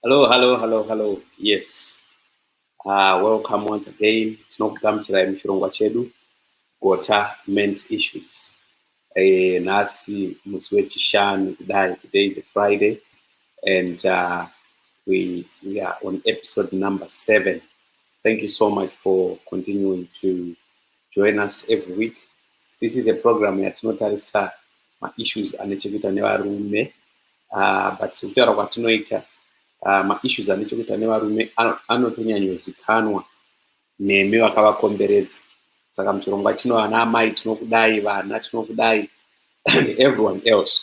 Hello, hello, hello, hello. Yes. Uh, welcome once again. Tinokugamuchirai muchirongwa chedu Gota Men's Issues. Eh, nhasi musi wechishanu kudai. Today is a Friday and uh, we, we are on episode number seven. Thank you so much for continuing to join us every week. This is a program yatinotarisa ma-issues ane chekuita nevarume uh, but sekutaura kwatinoita uh, maissues ane chekuita nevarume anotonyanyozikanwa nemi vakavakomberedza saka muchirongwa chino vana amai tinokudai vana tinokudai everyone else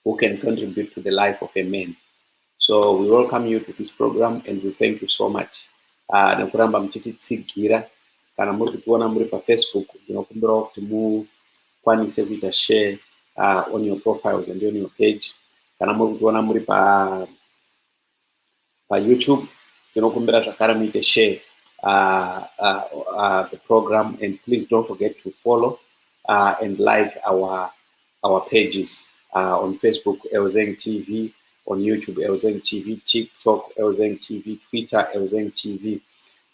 who can contribute to the life of a man so we welcome you to this program and we thank you so much uh, nekuramba muchititsigira kana muri kutiona muri pafacebook ndinokumbirawo kuti mu mukwanise kuita share uh, on your profiles and on your page kana muri kutiona muri pa payoutube tinokumbira zvakare muite share uh, uh, uh, the program and please don't forget to follow uh, and like our our pages uh, on facebook elzeng tv on youtube elzeng tv tiktok elzeng tv twitter elzeng tv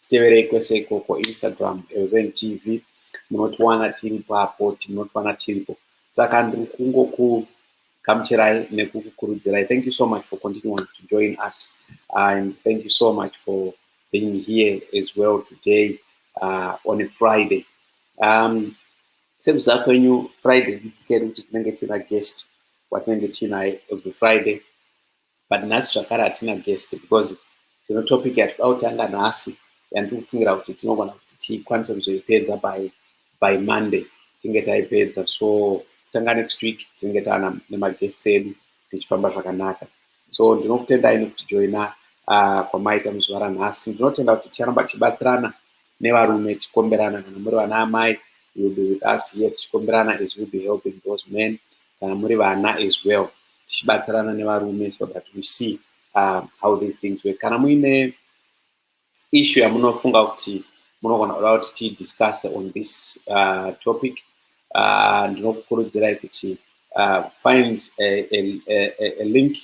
titeverei kwese ikoko instagram elzeng tv munotiwana tiri papo tinotiwana tiripo saka ndiri kungokugamuchirai nekukukurudzirai thank you so much for continuing to join us and thank you so much for being here as well today uh, on a friday um, sekuziva kwenyu friday idzikedu kuti tinenge tiina guest watinenge tiinaye every friday but nhasi zvakare hatina guest because tino topic yatikuda kutanga nhasi yandiri kufungira kuti tinogona kuti tikwanise kuzoipedza by by monday tinge taipedza so kutanga next week tinenge taana nemaguests edu tichifamba zvakanaka so ndinokutendai nekuti joina uh, kwamaita muzuva ranhasi ndinotenda kuti ticharamba tichibatsirana nevarume tichikomberana kana muri vana amai will be with us here tichikomberana as will be helping those men kana muri vana as well tichibatsirana nevarume so that we see uh, how these things work kana muine issue yamunofunga kuti munogona kuda kuti tidiscuss on this uh, topic uh, ndinokukurudzirai kuti uh, find a, a, a, a link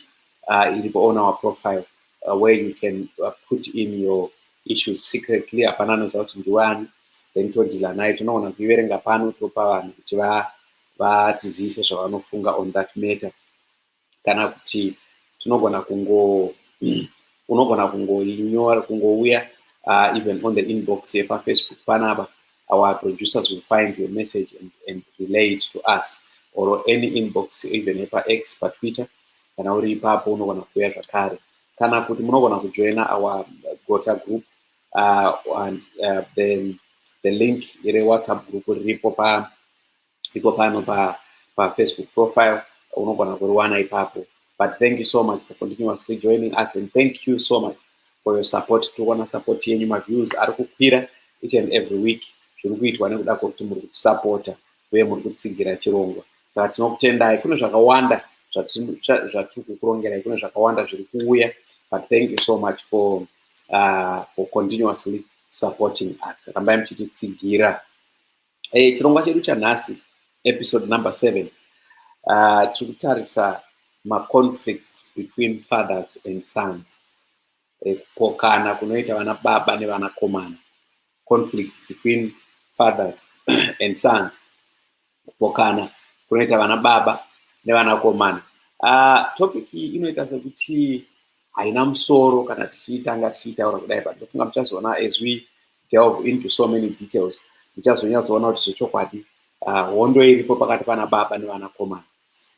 uh, iripo on our profile uh, where you can uh, put in your issues secretly hapana anoziva kuti ndiwani then todhila naye tinogona kuiverenga pano topa vanhu kuti va vatizivise zvavanofunga on that matter kana kuti tinogona kungo unogona kungoinyora kungouya uh, even on the inbox yepafacebook panapa our producers will find your message and, and relay it to us or any inbox even yepax patwitter kana uri ipapo unogona kuuya zvakare kana kuti munogona kujoina our gota group uh, and uh, the, the link rewhatsapp group riripo pa iko pano pa pafacebook profile unogona kuriwana ipapo but thank you so much for continuously joining us and thank you so much for your support tiri kuona support yenyu maviews ari kukwira each and every week zviri kuitwa nekuda kwekuti muri kutisapota uye muri kutsigira chirongwa saka tinokutendai kune zvakawanda zvatiri kukurongerai kune zvakawanda zviri kuuya but thank you so much for uh, for continuously supporting us rambai muchititsigira Hey, eh, chirongwa chedu chanhasi episode number seven uh, tiri kutarisa maconflicts between fathers and sons eh, kupokana eh, kunoita vana baba nevanakomana conflicts between fathers and sons kupokana kunoita vana baba nevanakomana uh, topic iyi inoita sekuti haina musoro kana tichiitanga tichiitaura kudai but ndofunga muchazoona as we delve into so many details muchazonyatsoona kuti zvechokwadi ah, hondo iripo pakati pana baba nevanakomana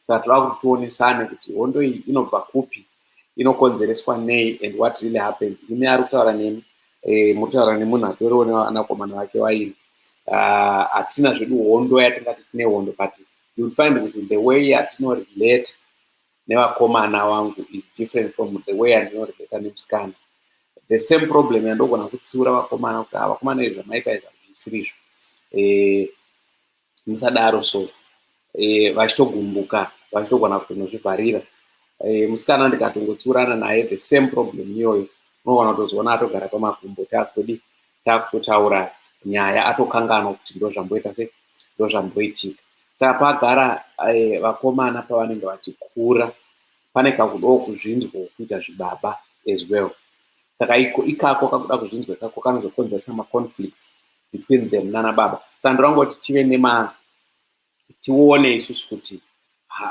saka toda kuti tionesane kuti hondo iyi inobva kupi inokonzereswa nei and what really happened imi ari kutaura nemi eh, muri kutaura nemunhu atoriwo nevanakomana vake vaini ah, hatina zvedu hondo yatingati tine hondo but youll find kuti the way yatinorelate nevakomana wangu is different from the way andinorelata nemusikana the same problem yandogona kutsiura vakomana kuti ah, vakomana izvi zvamaita izvi hazvisiri izvo eh, musadaro so eh, vachitogumbuka vachitogona kutonozvivharira eh, musikana ndikatongotsiurana naye the same problem iyoyo unogona kutozoona atogara pamakumbo taakutodii takutotaura nyaya atokanganwa kuti ndozvamboita se ndozvamboitika saka pagara eh, vakomana pavanenge vachikura pane kakudawo kuzvinzwa kuita zvibaba as well saka iko ikako kakuda kuzvinzwa ikako kanozokonzeresa maconflicts between them nana baba saka ndorangoti tive nema tione isusu kuti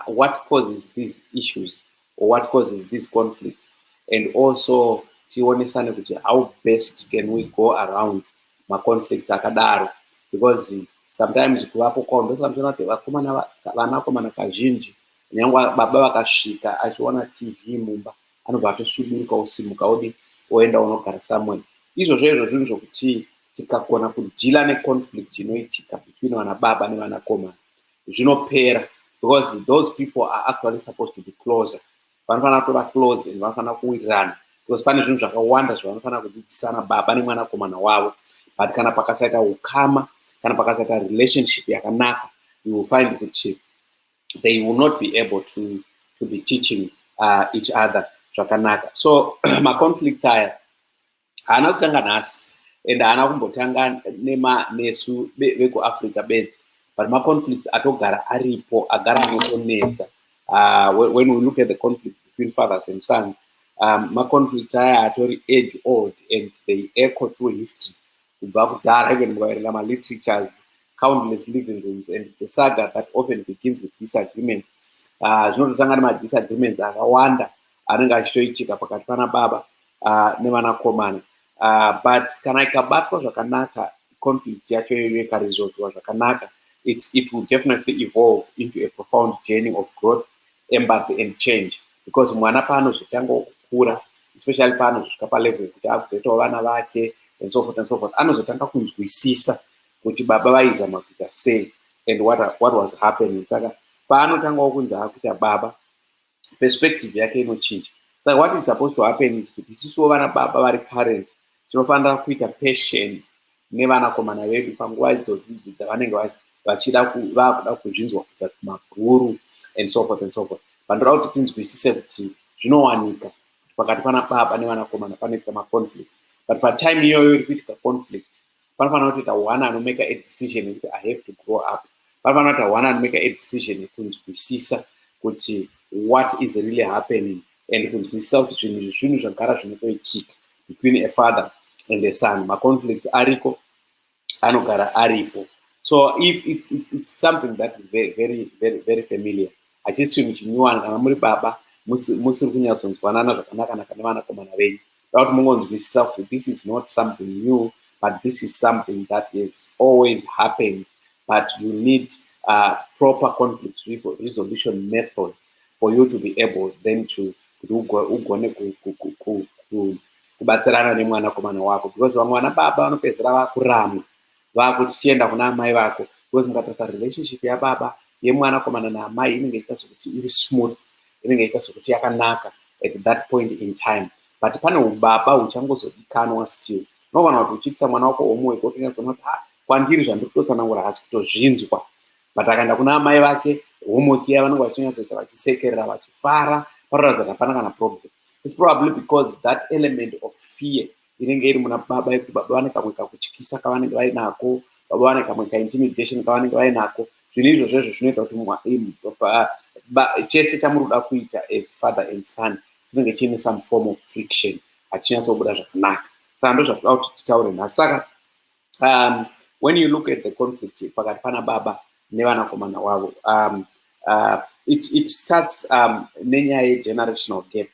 what causes these issues or what causes these conflicts and also tionesane kuti how best can we go around maconflicts akadaro because sometimes kuvapo kwao ndosamtona kuti vakomana vanakomana kazhinji nyangwe baba vakasvika achiona tv mumba anobva atosviburuka osimuka odi oenda onogara somewhere izvozvo izvo zvinhu zvokuti tikagona kudhila neconflict inoitika between vana baba nevana koma zvinopera because those people are actually supposed to be closer vanofanira kutova close and vanofanira kuwirirana because pane zvinhu zvakawanda zvavanofanira kudzidzisana baba nemwanakomana wavo but kana pakasaita ukama kana pakasaita relationship yakanaka you will find kuti they will not be able to, to be teaching uh, each other zvakanaka so maconflicts aya haana kutanga nhasi and haana kumbotanga nema nesu vekuafrica bedzi but maconflicts atogara aripo agara anotonetsa uh, when we look at the conflict between fathers and sons um, maconflicts aya atori age old and they echo through history Kubva kudhara, even mukaverenga malitratures, countless living rooms, and it's a saga that often begins with disagreement. Ah, zvinototanga nemadisagreements akawanda anenge achitoitika pakati pana baba ah, nevanakomana ah, but kana ikabatwa zvakanaka conflict yacho iyoyo ikaresolviwa zvakanaka it, it will definitely evolve into a profound journey of growth embassy and change because mwana paanozotanga kukura especially paanozosvika palevel yekuti akuzoitawo vana vake and so forth and so forth anozotanga kunzwisisa kuti baba vaizama kuita sei and what, what was happening saka paanotangawo kunzi akuita baba perspective yake inochinja saka what is supposed to happen is kuti isisuwo vana baba vari current tinofanira kuita patient nevanakomana vedu panguva idzodzidzi dzavanenge vachida vakuda kuzvinzwa kuita kumabhuru and so forth and so forth vandoda kuti tinzwisise kuti zvinowanika kuti pakati pana baba nevanakomana panoita maconflict but patime iyoyo iri kuitika conflict panofanira kutoita one anomaker a decision yekuti i have to grow up panofanira kuita one anomaker a decision yekunzwisisa kuti what is really happening and kunzwisisa kuti zvinhu izvi zvinhu zvagara zvinotoitika between a father and a son maconflicts ariko anogara aripo so if it's, it's, it's something that is very, very, very, very familiar hachisi chinhu chinyuwani kana muri baba musiri kunyatsonzwanana zvakanakanaka nevanakomana venyu da kuti mungonzwisisa kuti this is not something new but this is something that is always happened but you need uh, proper conflict resolution methods for you to be able then to kuti ugone kubatsirana nemwanakomana wako because vamwe vana baba vanopedzera vakuramwa vakuti chienda kuna amai vako because mukatarisa relationship yababa yemwanakomana naamai inenge iita sokuti iri smooth inenge iita sokuti yakanaka at that point in time but pane ubaba huchangozodikanwa still unogona kuti uchiitisa mwana wako homework wotonyatsoona kuti ha kwandiri zvandiri kutotsanangura hasi kutozvinzwa but akaenda kuna amai vake homework iya vanenge vachinyatsoita vachisekerera vachifara paroratidza kuti hapana kana problem its probably because that element of fear inenge iri muna baba yekuti baba vane kamwe kakutyisa kavanenge vainako baba vane kamwe kaintimidation kavanenge vainako zvinhu izvozvo izvo zvinoita kuti chese chamuri kuda kuita as father and son chinenge chiine some form of friction hachinyatsobuda zvakanaka saka ndozvatida kuti titaure nhasi saka um, when you look at the conflict pakati pana baba nevanakomana wavo um, uh, it, it starts um, nenyaya yegenerational gap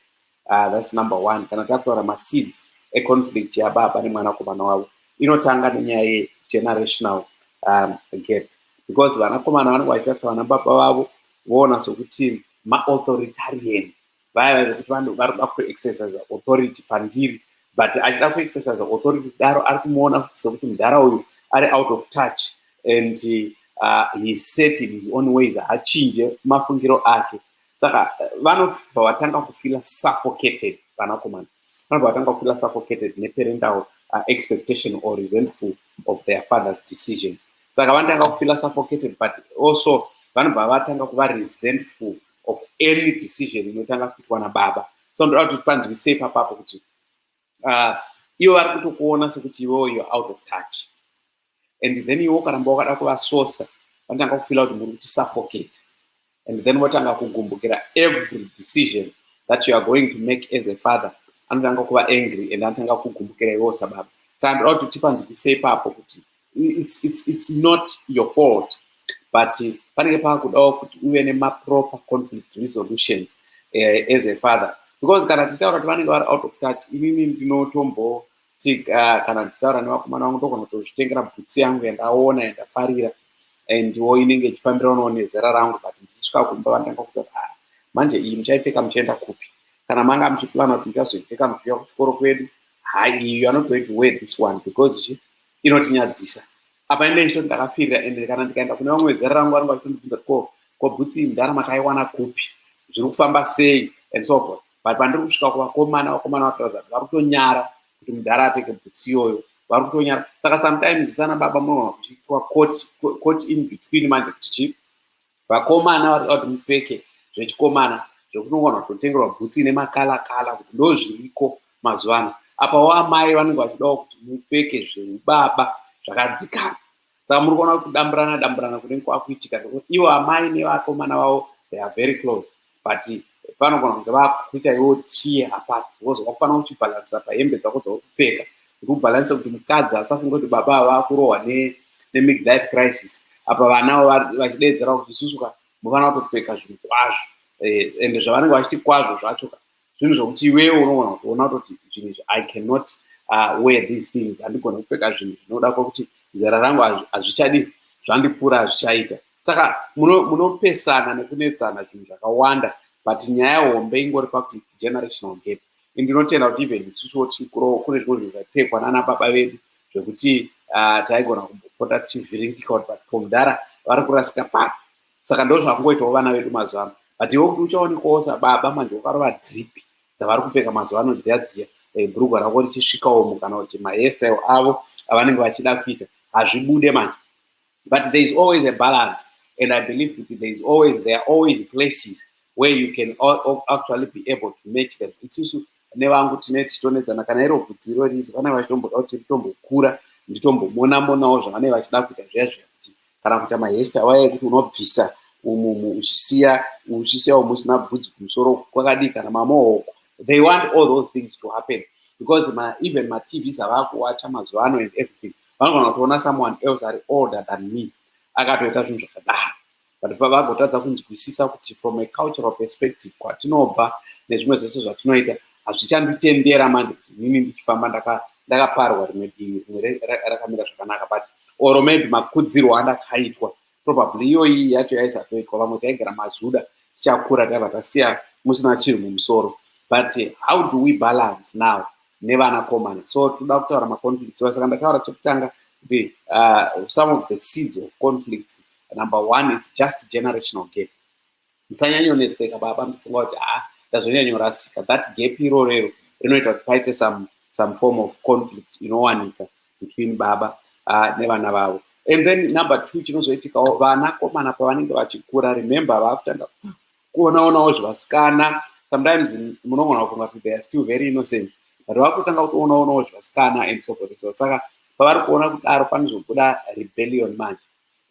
uh, thats number one kana takutaura maseeds econflict yababa nemwanakomana wavo inotanga nenyaya yegenerational um, gap because vanakomana vanenge vachitarisa vanababa vavo voona sokuti maauthoritarian vaya vekuti varikuda kuexercise authority pandiri but achida kuexercise authority kudaro ari kumuona sekuti mudhara uyu ari out of touch and uh, he set in his own ways haachinje mafungiro ake saka uh, vanobva vatanga kufila suffocated vanakomana vanobva vatanga kufila suffocated neparental uh, expectation or resentful of their father's decisions saka vanotanga kufila suffocated but also vanobva vatanga kuva resentful uh, of any decision inotanga kuitwa nababa so ndoda kuti panzwise ipapapo kuti uh, ivo vari kutokuona sekuti iwewo you're out of touch and then iwo karamba wakada kuvasosa vanotanga kufila kuti muri kuti suffocate and then votanga kugumbukira every decision that you are going to make as a father anotanga kuva angry and anotanga kugumbukira iwewo sababa saka ndoda kuti tipanzwise ipapo kuti it's, it's, it's not your fault but panenge paakudawo kuti uve nemaproper conflict resolutions uh, as a father because kana tichitaura kuti vanenge vari out of touch inini ndinotomboti uh, kana ndichitaura nevakomana vangu ndogona kutozvitengera bhutsi yangu yandaona yandafarira andiwo inenge ichifambiranawo nezera rangu but ndichisvika kumba vandanga kuta ah, manje iyi muchaipfeka muchienda kupi kana manga muchiplana kuti muchazoipfeka muchiuya kuchikoro kwedu ha iyo anotoiti we this one because inotinyadzisa apa ende ndichitoti ndakafirira ende kana ndikaenda kune vamwe vezera rangu vanenge vachitondibvunza ko ko bhutsi mdhara makaiwana kupi zviri kufamba sei and so forth but pandiri kusvika kuvakomana vakomana vatoratidza kuti vari kutonyara kuti mdhara apfeke bhutsi iyoyo vari kutonyara saka sometimes sana baba munogona kuchiitwa court in between manje kuti chii vakomana vari kuti mupfeke zvechikomana zvekuti unogona kutotengerwa bhutsu ine makala kala kuti ndo zviriko mazuva ano apawo amai vanenge vachidawo kuti mupfeke zveubaba zvakadzikana saka muri kuona kuti kudamburana damburana kunenge kwakuitika nekuti ivo amai nevakomana vavo they are very close but panogona kunge vakuita iwo tie apart because wakufanira kuchibhalansa pahembe dzako dzauri kupfeka kuti ubhalanse kuti mukadzi asafunge kuti baba ava vakurohwa nemidlife crisis apa vanavo vachidedzera kuti isusu ka mufanira kutopfeka zvinhu kwazvo eh, ende zvavanenge vachiti kwazvo zvacho ka zvinhu zvokuti iwewe unogona kutoona kutoti zvinhu izvi i cannot uh, wear these things handigona kupfeka zvinhu zvinoda kwakuti zera rangu hazvichadi zvandipfuura hazvichaita saka munopesana muno nekunetsana zvinhu zvakawanda but nyaya hombe ingori pakuti its generational gap indinotenda kuti even isusuwo tichikuroo kune zvimwe zvinhu zvaipfekwa nana baba vedu zvekuti uh, taigona kumbopota tichivhiringika kuti but pomudhara vari kurasika paa saka ndo zvakungoitawo vana vedu mazuva ano but iwe kuti uchaonekwawo sababa manje wakarova dhipi dzavari kupfeka mazuva ano dziya dziya eh, bhurugwa rako richisvikawo mu kana kuti maestyle avo avanenge vachida kuita hazvibude manje but there is always a balance and i believe kuti there is always there are always places where you can actually be able to match them isusu nevangu tine tichitonetsana kana iro bvudziro riri vanenge vachitomboda kuti ritombokura nditombomonamonawo zvavanenge vachida kuita zviya zviya kana kuita mahesta waya ekuti unobvisa umu uchisiya uchisiya umu usina bvudzi kumusoro kwakadii kana mamohoko they want all those things to happen because ma, even matvs avakuwacha mazuva ano and everything vanogona kutoona someone else ari older than me akatoita zvinhu zvakadaro but pavagotadza kunzwisisa kuti from a cultural perspective kwatinobva nezvimwe zvese zvatinoita hazvichanditendera manje kuti nini ndichifamba ndakaparwa rimwe divi rimwe rakamira zvakanaka but or maybe makudzirwo andakaitwa probably iyoyi yacho yaisatoitwa vamwe taigara mazuda tichakura taiva tasiya musina chinhu mumusoro but how do we balance now nevana komana so toda kutaura maconflicts saka ndataura chekutanga kuti uh, some of the seeds of conflicts number one is just generational gap musanyanyonetseka baba mufunga kuti ha ah, ndazonyanyorasika that gap irorero rinoita kuti paite some, some form of conflict inowanika between baba uh, nevana vavo and then number two chinozoitikawo vanakomana pavanenge vachikura remember vakutanga kuonaonawo zvevasikana sometimes munogona kufunga kuti they are still very innocent but vakutanga kutoonaonawo zvevasikana and so forth so saka pavari kuona kudaro panozobuda rebellion manje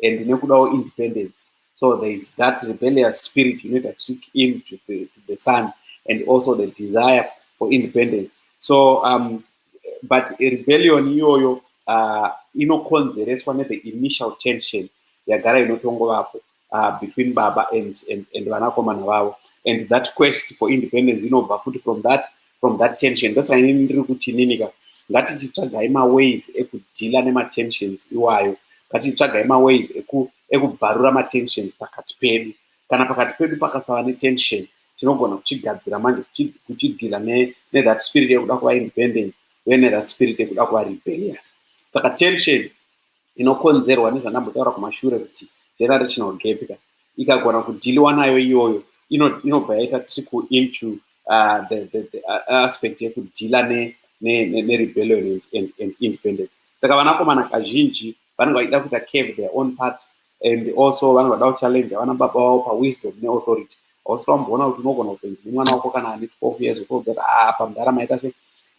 and nekudawo independence so there is that rebellious spirit inoita trick in to the, to the son and also the desire for independence so um, but rebellion iyoyo uh, inokonzereswa nethe initial tension yagara inotongovapo uh, between baba and, and, and vanakomana vavo and that quest for independence inobva futi from that from that tension ndosaka ini ndiri kuti ininika ngatichitsvagai maways ekudhila nematensions iwayo ngatichitsvagai maways ekubvarura eku matensions pakati pedu kana pakati pedu pakasava netension tinogona kuchigadzira manje kuchidhila nethat spirit yekuda kuva independent uye nethat spirit yekuda kuva rebellious saka tension inokonzerwa nezvandambotaura kumashure kuti general regional gap ka ikagona kudhiliwa nayo iyoyo inobva yaita trickle into uh, the, the, the uh, aspect yekudhila nerebellion ne, ne, ne and, and independence saka vanakomana kazhinji vanenge vachida kuita cave their own path and also vanenge vada kuchallenge vana baba vavo pawisdom neauthority hausi vamboona kuti unogona kutoinzi nemwana wako kana ane 12 years old kuti apa mudhara maita se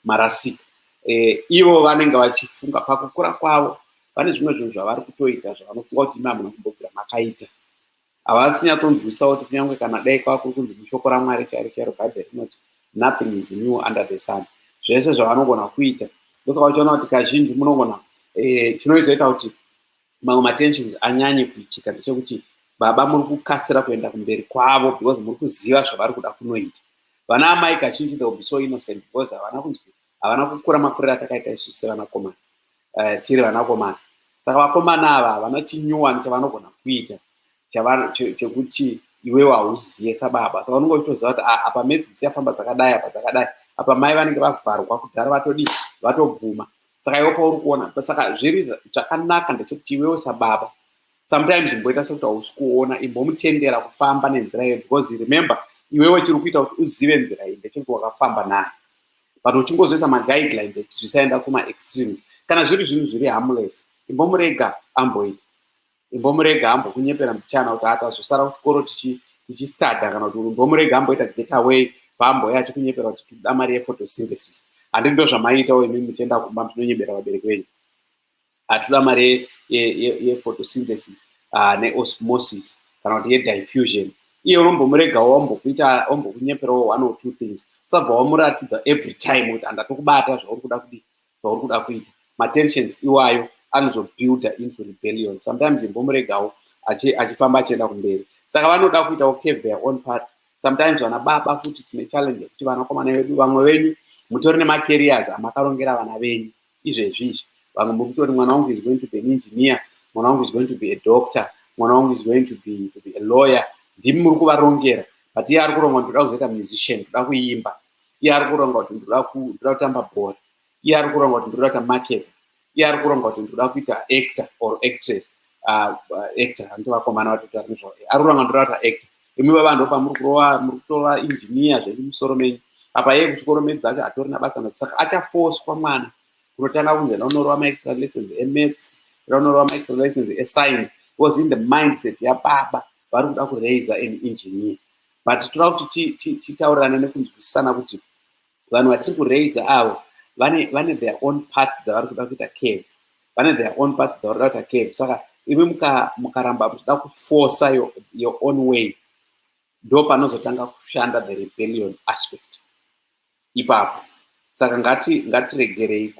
marasika eh, ivo vanenge vachifunga pakukura kwavo vane zvimwe zvinhu zvavari kutoita zvavanofunga kuti imamuna kumbobvira makaita havasi nyatsonzwisa kuti kunyange kana dai kwava kuri kunzi mushoko ramwari chairo chairo bhaibheri rinoti nothing is new under the sun zvese zvavanogona kuita ndosaka uchiona kuti kazhinji munogona eh, chinoizoita kuti mamwe matensions anyanye kuitika ndechekuti baba muri kukasira kuenda kumberi kwavo because muri kuziva zvavari kuda kunoita vana amai kazhinji the be so innocent because havana kunzwi havana kukura makuriro atakaita isu sevanakomana uh, tiri vanakomana saka vakomana ava havana chinyuwani chavanogona kuita chekuti iwewo hauziye sababa saka unenge uchitoziva kuti ah, apa medzi dziyafamba dzakadai apa dzakadai apa mai vanenge vavharwa kudhara vatodii vatobvuma saka iwe pauri kuona saka zviri zvakanaka ndechekuti iwewo sababa sometimes imboita sekuti hausi kuona imbomutendera kufamba nenzira iyo because remember iwewe chiri kuita kuti uzive nzira iyi ndechekuti wakafamba nayo but uchingozoisa maguidelines ekuti zvisaenda kumaextremes kana zviri zvinhu zviri harmless imbomurega amboita imbomurega ambokunyepera mbichana kuti atazosara kuchikoro tichistadha kana kuti imbomurega amboita get away paamboya achikunyepera kuti tikuda mari yefotosynthesis handii ndo zvamaiitawo imimi muchienda kumba muchinonyebera vabereki venyu hatida mari yefotosynthesis ah, neosmosis kana kuti yediffusion iye unombomuregawo wambokuita wambokunyeperawo one or two things usabva wamuratidza every time kuti handatokubata zvauri kuda kudii zvauri kuda kuita matensions iwayo anozobuilda into rebellion sometimes imbomuregawo achifamba achienda kumberi saka vanoda kuitawo cave their own part sometimes vana baba futi tine challenge yekuti vanakomana vedu vamwe venyu mutori nemacarriers amakarongera vana venyu izvezvi izvi vamwe mukutori mwana wangu is going to be an engineer mwana wangu is going to be a doctor mwana wangu is going to be, to be a lawyer ndimi muri kuvarongera but iye ari kurongwa ndoda kuzoita musician ndoda kuimba iye ari kuronga kuti ndoda kuda kutamba bhora iye ari kuronga kuti ndoda kuita market iye ari kuronga kuti ndoda kuita actor or actress ah, actor hanti vakomana vatotaura nezvao ari kuronga ndoda kuita actor imi baba ndo pamuri kurova muri kutova engineer zvenyu musoro menyu apa iye kuchikoro medzi acho hatorina basa nacho saka achafoswa mwana kunotanga kunzi enda unorova maextra lessons emaths enda unorova maextra lessons escience was in the mindset yababa vari kuda kuraiser an engineer but toda kuti titaurirane nekunzwisisana kuti vanhu vatiri kuraiser avo vane vane their own parts dzavari kuda kuita cave vane their own parts dzavari kuda kuita cave saka imi mukaramba muchida kufosa your own way ndo panozotanga kushanda the rebellion aspect ipapo saka ngati ngatiregerei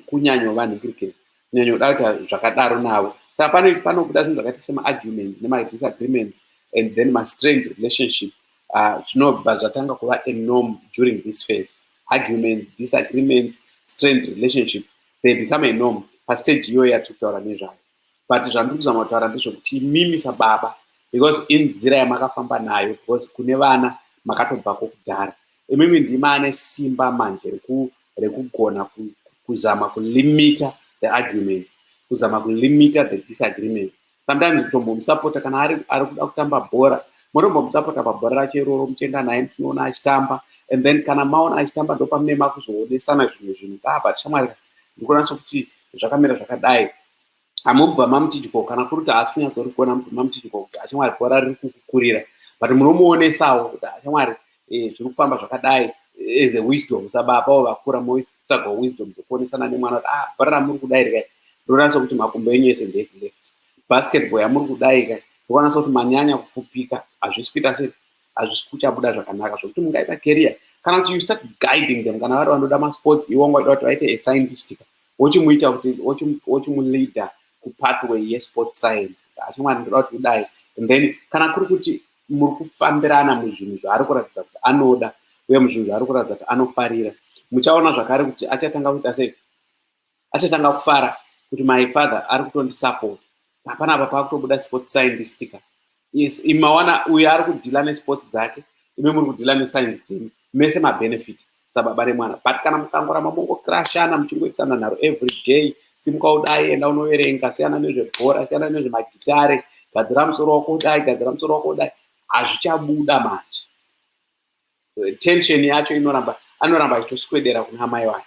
kunyanyovanhikirikei kunyanyoda kuita zvakadaro navo saka pane panobuda zvinhu zvakaita semaargument nemadisagreements and then mastrained relationship ah, zvinobva uh, zvatanga kuva anorm during this phase arguments disagreements strained relationship they become anorm pastage iyoyo yatiri kutaura nezvayo but zvandiri kuzama kutaura ndezvekuti imimi sababa because inzira yamakafamba nayo because kune vana makatobvako kudhara imimi ndima ane simba manje rekugona kuzama kulimita the arguments kuzama kulimita the disagreement sometimes kutombomusapota kana ari ari kuda kutamba bhora motombomusapota pabhora racho iroro muchienda naye muchinoona achitamba and then kana maona achitamba ndopamune makuzoonesana zvimwe zvinhu kaa but shamwari ndikonatso kuti zvakamira zvakadai amubva mamutidyo kana kuri kuti haasi kunyatsori kuona mubva mamutidyo kuti ashamwari bhora riri kukukurira but munomuonesawo kuti ashamwari eh, zviri kufamba zvakadai as a wisdom sababa wo vakura moitsvaga wisdom dzekuonesana nemwana kuti ah bhora ramuri kudai rikai ndonatso kuti makumbo enyu ese ndeekuleft basketball yamuri kudai kai ndokwanatso kuti manyanya kupfupika hazvisi kuita sei hazvisi kuchabuda zvakanaka zvekuti mungaita career kana kuti you start guiding them kana vari vanoda masports iwo ungaida kuti vaite a scientistika wochimuita kuti wochimuleader kupathway yesport science achimwana ndoda kuti kudai and then kana kuri kuti muri kufambirana muzvinhu zvaari kuratidza kuti anoda uye muzvinhu zvaari kuratidza kuti anofarira muchaona zvakare kuti achatanga kuita sei achatanga kufara kuti my father ari kutondisupport hapana apa pakutobuda sport scientist ka yes imawana uyo ari kudhila nesports dzake ime muri kudhila nescience dzenyu mese mabenefit sababa remwana but kana mukangoramba mongokrashana muchingoitisana nharo every day simuka udai enda unoverenga siyana nezvebhora siyana nezvemagitare gadzira musoro wako udai gadzira musoro wako udai hazvichabuda manje tension yacho inoramba anoramba achitoswedera kuna amai wake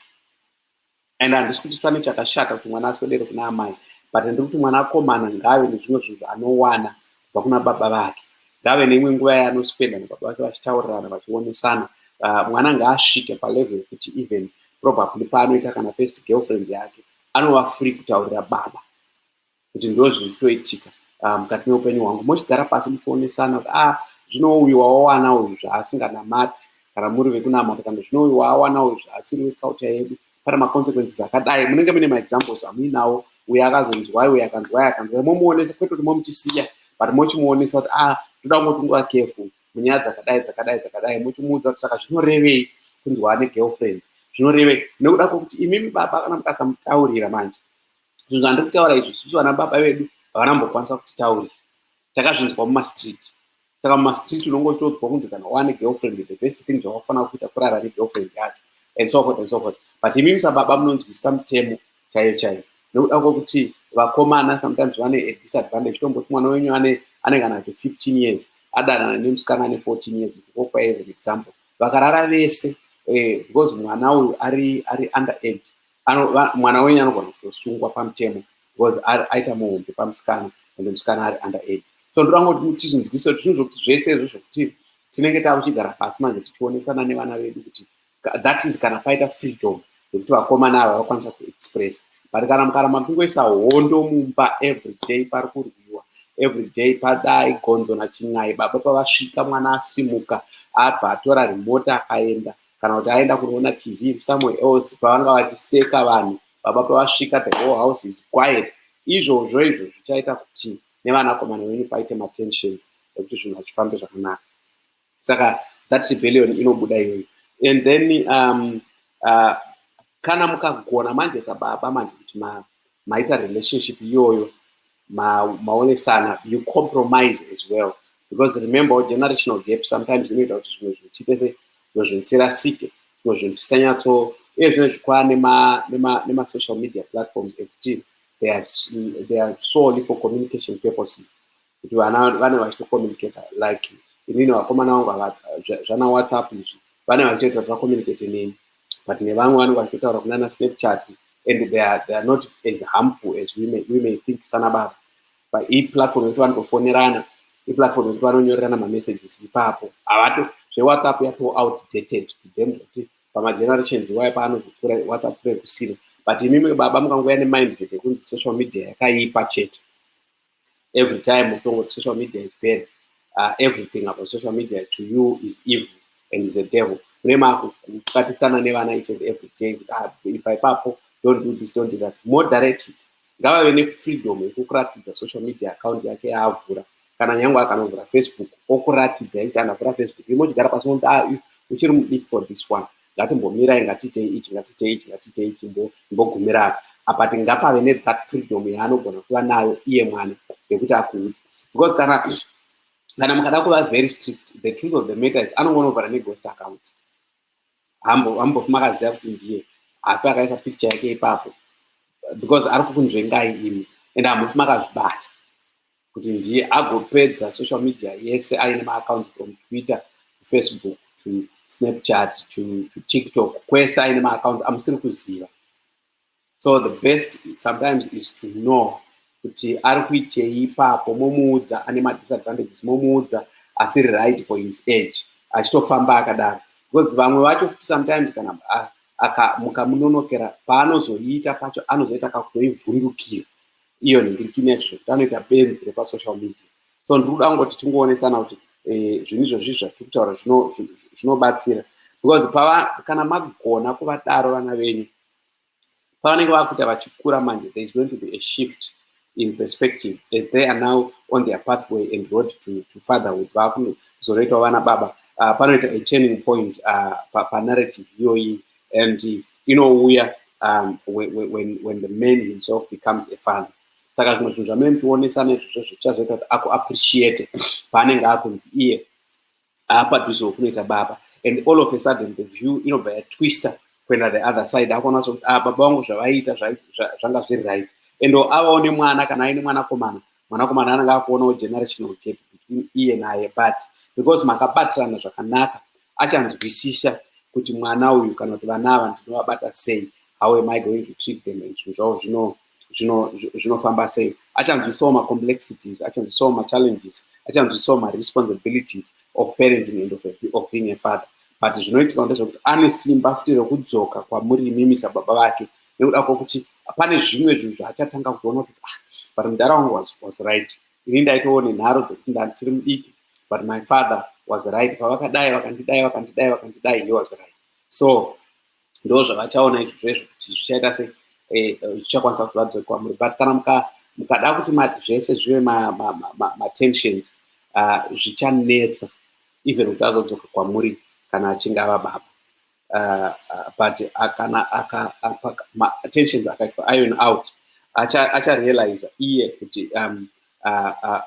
and handisi kuti pane chakashata kuti mwana aswedere kuna amai but ndiri kuti mwana akomana ngaave nezvimwe zvinhu zvaanowana kubva kuna baba vake ngaave neimwe nguva yaanospenda nababa vake vachitaurirana vachionesana uh, mwana ngaasvike palevel yekuti even probably paanoita kana first girlfriend yake anova free kutaurira baba kuti ndozviri kutoitika ah, mukati meupenyu hwangu mochigara pasi muchionesana kuti ah zvino uyu wawawana uyu zvaasinganamati kana muri vekunamata kana zvino uyu waawana uyu zvaasiri wekauta yedu pane maconsequences akadai munenge mune maexamples amuinawo uyo akazonzwai uyo akanzwai akanzwai momuonesa kwete kuti momuchisiya but mochimuonesa kuti ah toda kungotunga kefu munyaya dzakadai dzakadai dzakadai mochimuudza kuti saka zvinorevei kunzwa ane girlfriend zvinorevei nekuda kwokuti imimi baba kana mukasamutaurira manje zvinhu zvandiri kutaura izvi isusu vana baba vedu havana mbokwanisa kutitaurira takazvinzwa mumastreet saka mumastreet unonge uchiodzwa kunzi kana wane girlfriend the best thing zvavakufanira kuita kurara negirlfriend yacho and so forth and so forth but imi musababa munonzwisa mutemo chaiyo chaiyo nekuda kwekuti vakomana sometimes vane a disadvantage tomboti mwana wenyu ane ane kana ati fifteen years adanana nemusikana ane fourteen years ndikopa as an example vakarara vese eh, because mwana uyu ari ari under age ano, va, mwana wenyu anogona kutosungwa pamutemo because ari aita muhombe pamusikana ende musikana ari under age so ndoda ngoti mutichinzwisa kuti zvinhu zvokuti zvese izvo zvokuti tinenge tava kuchigara pasi manje tichionesana nevana vedu kuti that is kana paita freedom yekuti vakomana ava vakwanisa kuexpress but kana mukaramba muchingoisa hondo mumba every day pari kurwiwa every day padai gonzo nachin'ai baba pavasvika mwana asimuka abva atora remote akaenda kana kuti aenda kunoona tv somewhere else pavanga vachiseka vanhu baba pavasvika the whole house is quiet izvozvo izvo zvichaita kuti nevanakomana venyu paite matensions ekuti zvinhu hazvifambe zvakanaka saka that rebellion inobuda iyoyi and then um, uh, kana mukagona manje sababa manje kuti maita relationship iyoyo maonesana you compromise as well because remember generational gap sometimes inoita kuti zvimwe zvinhu tiite se zvimwe zvinhu tirasike zvimwe zvinhu tisanyatso uye zvine zvikwaa nemasocial media platforms ekuti they are, they are solely for communication purposes kuti vana vane vachitocommunicata like inini vakomana vangu zvana whatsapp izvi vane vachitoita kuti vacommunicate neni but nevamwe vanenge vachitaura kunana snapchat and they are, they are not as harmful as we may, we may think sana baba but iplatform yekuti vanotofonerana iplatform yekuti vanonyorerana mamessages ipapo havato zvewhatsapp yato outdated to them zvekuti pamagenerations iwayo paanozokura whatsapp kure kusina but imimwe baba mukangouya nemindset yekunzi social media yakaipa chete every time utongo social media is bad uh, everything about social media to you is evil and is a devil mune makubatitsana nevana each and every day kuti ah, ipa ipapo don't do this don't do that more directed ngavave nefreedom yekukuratidza social media account yake yaavhura kana nyange akanovhura facebook okuratidza yekuti anavhura facebook imochigara pasi momuti ah, uchiri mudiki for this one ngatimbomirai ngatiitei ichi ngatiitei ichi ngatiitei ichi imbogumira apa apa ti ngapave nethat freedom yaanogona kuva nayo iye mwana yekuti akuudzi because kana kana mukada kuva very strict the truth of the matter is anongonovhara neghost account hambofi makaziva kuti ndiye hafi akaisa picture yake ipapo because ari kukunzvengai imi and hambofi makazvibata kuti ndiye agopedza social media yese aine maacount from twitter kufacebook to snapchat to, to tiktok kwese aine maacount amusiri kuziva so the best sometimes is to know kuti ari kuitei ipapo momuudza ane madisadvantages momuudza asiri right for his age achitofamba akadaro because vamwe vacho futi sometimes kana ah, mukamunonokera paanozoita pacho anozoita kakutoivhundukira iyo nhingiriki inezvo zvekuti anoita benzi repasocial media so ndiri kuda kungoti tingoonesana kuti eh, zvinhu izvozvi zvatiri kutaura zvinobatsira because pava kana magona kuvadaro vana venyu pavanenge vakuita vachikura manje there is going to be a shift in perspective as they are now on their pathway and road to, to fatherhood vakuzonoitawo vana baba uh, panoita a turning point uh, panarrative iyoyi and inouya um, when, when, when the man himself becomes a father saka zvimwe zvinhu zvamene mutionesa nezvizvo zvichazoita kuti aku appreciate paanenge akunzi iye aapadhuze wekunoita baba and all of a sudden the view inobva yatwister kuenda the other side akuona so kuti ah, baba vangu zvavaiita zvanga zviri right and avawo nemwana kana aine mwanakomana mwanakomana anenge akuonawo generational gap between iye naye but because makabatirana zvakanaka achanzwisisa kuti mwana uyu kana kuti vana ava ndinovabata sei how am i going to treat them and zvinhu zvavo zvino zvinofamba sei achanzwisawo macomplexities achanzwisawo machallenges achanzwisawo maresponsibilities of parenting and of, a, of being a father but zvinoitika ndezvekuti ane simba futi rekudzoka kwamuri imimi sababa vake nekuda kwekuti pane zvimwe zvinhu zvaachatanga kutoona kuti ah, but mudhara wangu was, was right ini ndaitoone nharo dzekuti ndandisiri mudiki but my father was right pavakadai vakandidai vakandidai vakandidai he was right so ndo zvavachaona izvozvo izvo kuti zvichaita se eh, zvichakwanisa kuti vabve kwamuri but kana mukada kuti zvese zvive matensions ah, zvichanetsa even kuti azodzoka kwamuri kana achinge ava baba uh, uh, but akana aka tensions akaitwa iron out acharealiza acha iye kuti um, uh, uh,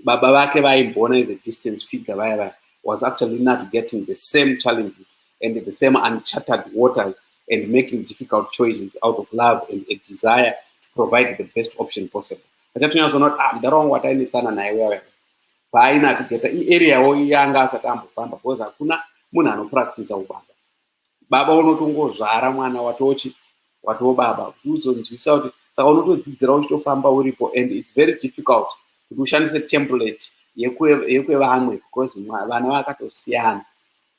baba vake vaimboona as a distance figure vaya vaya was actually navigating the same challenges and the same uncharted waters and making difficult choices out of love and a desire to provide the best option possible achatonyatsonoti ah mdara wangu watainetsana naye wewe paainavigeta iarea wo yanga asati ambofamba because hakuna munhu anopractisa ubaba baba unotongozvara mwana watochi watoo baba kuti uzonzwisa kuti saka unotodzidzira uchitofamba uripo and its very difficult kuti ushandise template yekwevamwe because vana vakatosiyana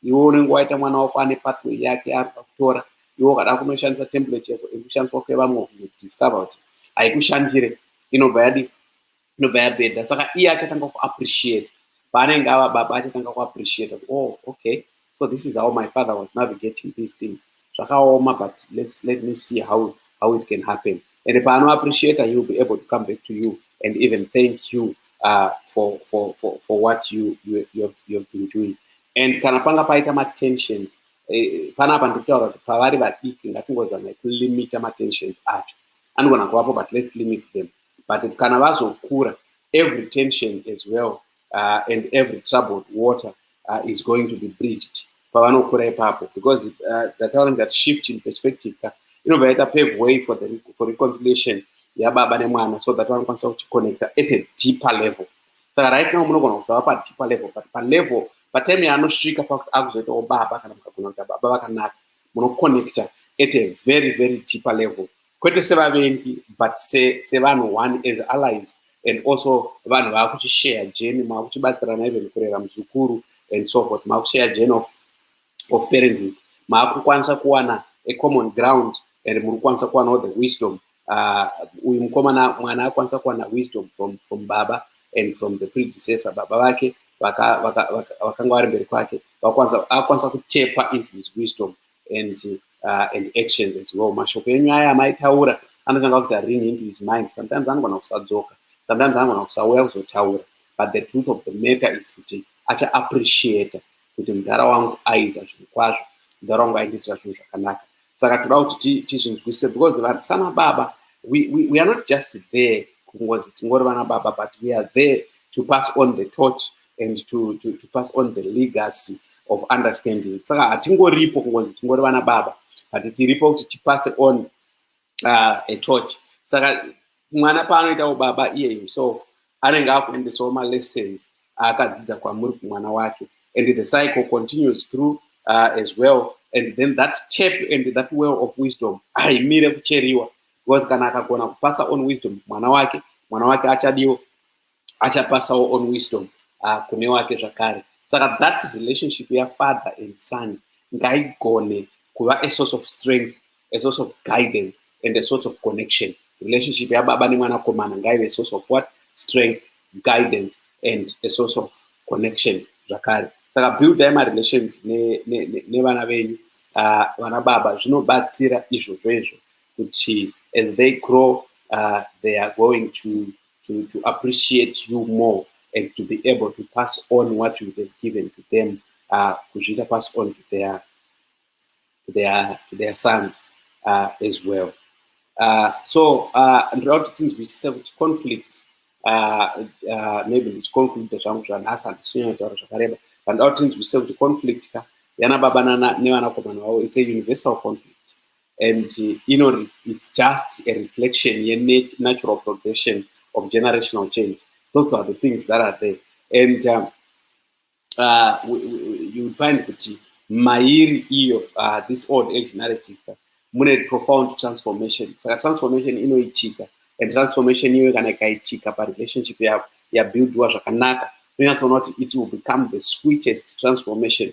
iwe unenge waita mwana wako ane patway yake ari pakutora iwe ukada kunoshandisa template yako iri kushandiswa kwevamwe kudiscover kuti haikushandire inobva yadi inobva yabhedha saka iye achatanga kuappreciate paanenge ava baba achatanga kuappreciate kuti oh okay so this is how my father was navigating these things zvakaoma but let's let me see how how it can happen and paanoappreciate he will be able to come back to you and even thank you uh, for, for, for, for what you, you, you, have, you have been doing and kana panga paita matensions eh, panapa ndikutaura kuti pavari vadiki ngatingozamai kulimita matensions acho anogona kuvapo but let's limit them but kana vazokura every tension as well uh, and every troubled water uh, is going to be bridged pavanokura ipapo because uh, ndataura ndati shift in perspective ka inobva yaita pave way for, the, for reconciliation yababa nemwana so that vanokwanisa kuchiconnecta at a deeper level saka right now munogona kuzava padeeper level but palevel patime yaanosvika pakuti akuzoitawo baba kana mukagona kuita baba vakanaka munoconnecta at a very very deeper level kwete sevavengi but sevanhu se one as allies and also vanhu vaakuchishare jeni maakuchibatsirana even kurera muzukuru and so forth maakushare jeni of, of parenting maakukwanisa kuwana a common ground and muri kukwanisa kuwanawo the wisdom uh, uyu uh, mukomana mwana akwanisa kuwana wisdom from, from baba and from the predecessor baba vake vakanga vari mberi kwake akwanisa kutepa into his wisdom and uh, and actions as well mashoko enyu aya amaitaura anotanga kuita ring into his mind sometimes anogona kusadzoka sometimes anogona kusauya kuzotaura but the truth of the matter is kuti acha appreciate kuti mudhara wangu aiita zvinhu kwazvo mudhara wangu aindiitira zvinhu zvakanaka saka toda kuti tizvinzwisise because vari sana baba we, we, we are not just there kungozi tingori vana baba but we are there to pass on the torch and to, to, to pass on the legacy of understanding saka hatingoripo kungonzi tingori vana baba but tiripo kuti tipase on uh, a torch saka mwana paanoitawo baba iye himself anenge akuendesawo malessons aakadzidza kwamuri kumwana wake and the cycle continues through uh, as well and then that tap and that well of wisdom haimire kucheriwa because kana akagona kupasa on wisdom mwana wake mwana wake achadiwo achapasawo on wisdom uh, kune wake zvakare saka that relationship yafather and son ngaigone kuva a source of strength a source of guidance and a source of connection relationship yababa nemwanakomana ngaive a source of what strength guidance and a source of connection zvakare saka buildai marelations nevana venyu uh, vana baba zvinobatsira izvozvo izvo kuti as they grow uh, they are going to to, to appreciate you more and to be able to pass on what you have given to them uh, kuzviita pass on to their, to their, to their sons uh, as well uh, so uh, ndoda kuti tinzwisise kuti conflict uh, uh, maybe ndichiconclude zvangu zvanhasi handisinyanya taura zvakareba vandoda kuti tinzwisise kuti conflict ka yana baba nevanakomana vavo it's a universal conflict and you know it's just a reflection yenatural progression of generational change those are the things that are there and um, uh, we, we, you would find kuti mairi iyo uh, this old age narrative mune profound transformation saka transformation inoitika and transformation iyoyo kana ikaitika parelationship yavo yabuildiwa zvakanaka unonyatsoona kuti it will become the sweetest transformation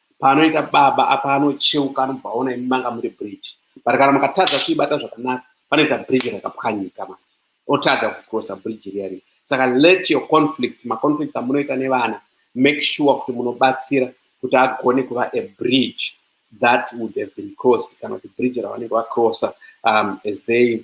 paanoita baba apa anocheuka anobva aona imi manga muri bridge but kana mukatadza kuibata zvakanaka panoita bridge rakapwanyika manje otadza kucrossa bridge riya riya saka let your conflict maconflict amunoita nevana make sure kuti munobatsira kuti agone kuva a bridge that would have been crossed kana kuti bridge ravanenge vacrossa um, as they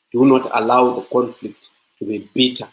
Do not allow the conflict to be bitter,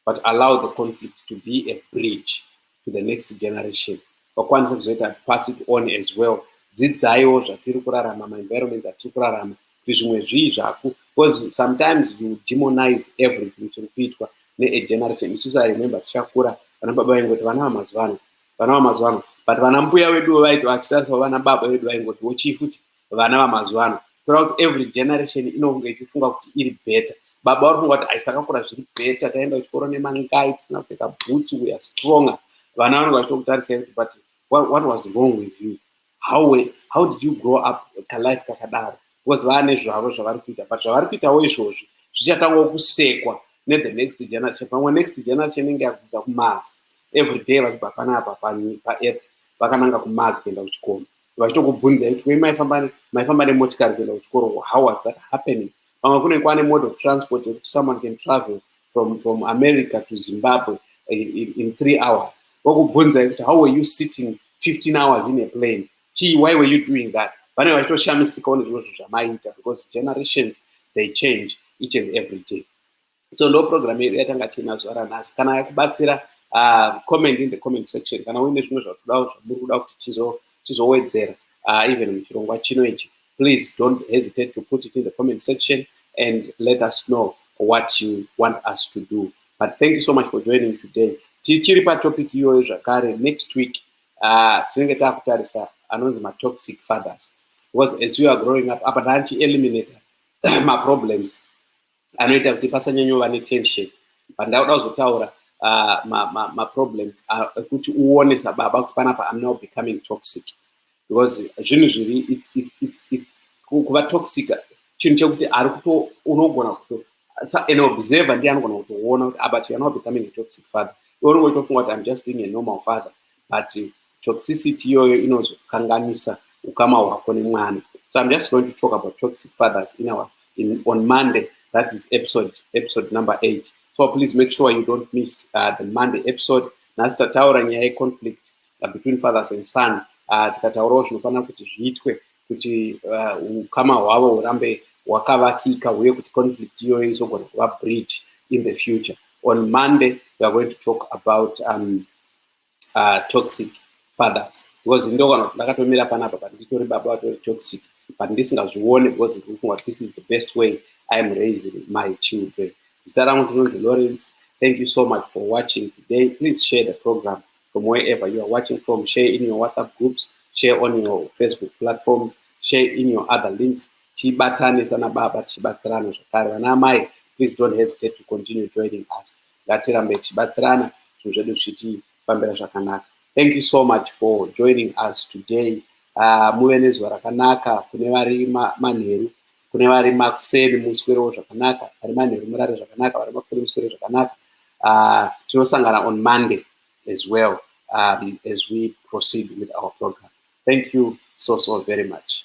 but allow the conflict to be a bridge to the next generation. Vakwanisa kuzoita pass it on as well. Dzidzaiwo zvatiri kurarama, my environment atiri kurarama, kuti zvimwe zvii zvaku, because sometimes you demonize everything chiri kuitwa ne generation. Isusu I remember tichakura, vana baba vaingoti vana vamazuva ano, vana vamazuva ano, but vana mbuya vedu vaiti vachitarisavo vana baba vedu vaingoti wochii futi, vana vamazuva ano kureva kuti every generation inonge ichifunga kuti iri better baba vari funga kuti aisi takakura zviri better taenda kuchikoro nemangai tisina kupfeka bhutsu weare stronger vana vanonge vachitokutarisai kuti but what, what was wrong with you how, were, how did you grow up kalife kakadaro because vaane zvavo zvavari kuita but zvavari kuitawo izvozvi zvichatangwa kusekwa nethe next generation pamwe next generation inenge yakudzidza kumazi every day vachibva panapa paearth vakananga kumazi kuenda kuchikomo vachitokubvunzai kuti wei maifamba maifamba nemotikari kuenda kuchikoro how was that happening pamwe kune kwane mode of transport yekuti someone can travel from, from america to zimbabwe in, in, in three hours vokubvunzai kuti how were you sitting 15 hours in a plane chii why were you doing that vanenge vachitoshamisikawo nezvimwe zvinhu zvamaiita because generations they change each and every day so ndo program yedu yatanga tiinazo aranhasi kana yakubatsira uh, comment in the comment section kana uine zvimwe zvatuda zvamuri kuda kuti tizowedzera uh, even muchirongwa chino ichi please don't hesitate to put it in the comment section and let us know what you want us to do but thank you so much for joining today tichiri patopic iyoyo zvakare next week uh, tinenge taakutarisa anonzi matoxic fathers because as you are growing up apa taanchi eliminate maproblems anoita kuti pasanyanyova netension pandauda kuzotaura uh, maproblems ma, ma uh, ekuti uone sababa kuti panapa am now becoming toxic because zvinhu zviri kuva toxic chinhu chekuti ari kuto unogona kuto an observer ndiye anogona kutoona kuti abut ah, you're not becoming a toxic father iwe unongoitofunga kuti i'm just being a normal father but toxicity iyoyo inozokanganisa ukama hwako nemwana so i'm just going to talk about toxic fathers in our in, on monday that is episode episode number eight so please make sure you don't miss uh, the monday episode nhasi tataura nyaya yeconflict uh, between fathers and son uh, tikataurawo zvinofanira kuti zviitwe kuti uh, ukama hwavo hurambe hwakavakika uye kuti conflict iyoyo izogona kuva bridge in the future on monday we are going to talk about um, uh, toxic fathers because ndokana kuti ndakatomira panapa but nditori baba vatori toxic but ndisingazvione because ndikufunga kuti this is the best way i am raising my children zita rangu ndinonzi lawrence thank you so much for watching today please share the program from wherever you are watching from share in your whatsapp groups share on your facebook platforms share in your other links tibatane sana baba tichibatsirana zvakare vana amai please don't hesitate to continue joining us ngatirambe tichibatsirana zvinhu zvedu zvichitifambira zvakanaka thank you so much for joining us today uh, muve nezuva rakanaka kune vari manheru kune vari makuseni muswerewo zvakanaka vari manheru murare zvakanaka vari makuseni muswere zvakanaka uh, tinosangana on monday as well um, as we proceed with our program thank you so so very much